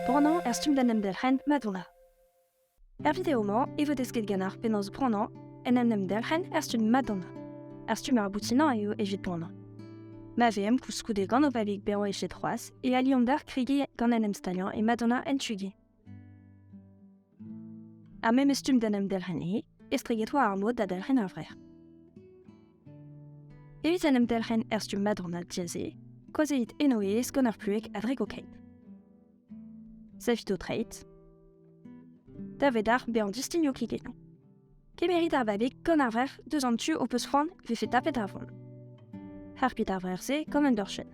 Branañ er stumm d'en em delc'hen Madonna. Er video-mañ e vo desket ganeoc'h penaos branañ en en em delc'hen er stumm Madonna. Ar stumm ar boutinañ eo evit branañ. Ma VM koulskoude gant o babig bezañ eget c'hoazh e aliomp d'ar kregiñ gant en em staliañ e Madonna en Tugi. Ha me meus stumm d'en em delc'hen he, estreget oa ar mod da delc'hen ur vrec'h. Evit en em delc'hen er stumm madonna diaze, koazeit eno ez gant ar plueg a drek o keit. Savit o treid. Da vedar bezañ distigno kliketañ. Kemerit ar babig gant ar vrec'h deus an tu o peus c'hoant vefe tapet ar vont. Harpit ar vrec'h-se gant un dorchenn.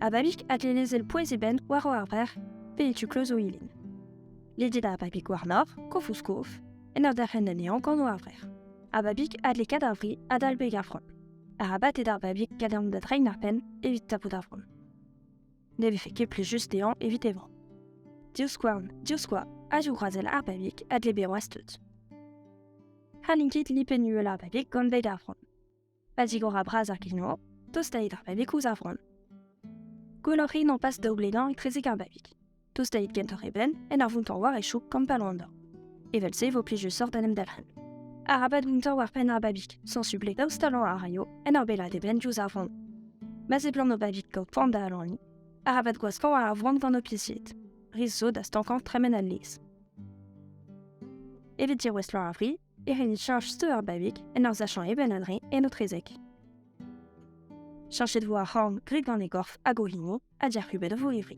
Ababik a lezel pouez e benn war o arver, pe e tu kloz o ilin. Ledet ar babik war-nor, kof-ouzh-kof, en ur derc'hen anezhañ gant o arver. Ababik a dle kat ar vri adal beg ar vrom. Arabat eo d'ar babik kadean da drein ar penn evit tapout ar vrom. Ne vefe ket plijus dezhañ evit e vro. Divskouarn, divskoa, a zivgroazel ar babik a dle bezañ tud. Ha n'int ket lipenn uhel ar babik gant beg ar vrom. Pa zigora bras ar giz-mor, tostait ar babig ouzh ar vran. Gwelloc'h int an pas daoublenañ etrezek ar babig. Tostait gentoc'h eben en ur vountañ war e chouk kampalo an dor. Evel-se vo plij sort d'en em dalc'hen. Arabat vountañ war penn ar babig, sansublet daoust talañ a raio en ur bellad eben diouzh ar vran. Ma seblant o babig kaout poan da alaniñ, arabat gwaskañ war ar vran gant ho pizied. Ris zo da stankañ tremen al lez. Evit dirouestlañ ar vri, e rin cheñch steur ar babig en ur sachañ eben a-dreñv en etrezek. Cheñchet vo ar c'horn graet gant e gorf hag o hini ha diac'hubet o vourrevri.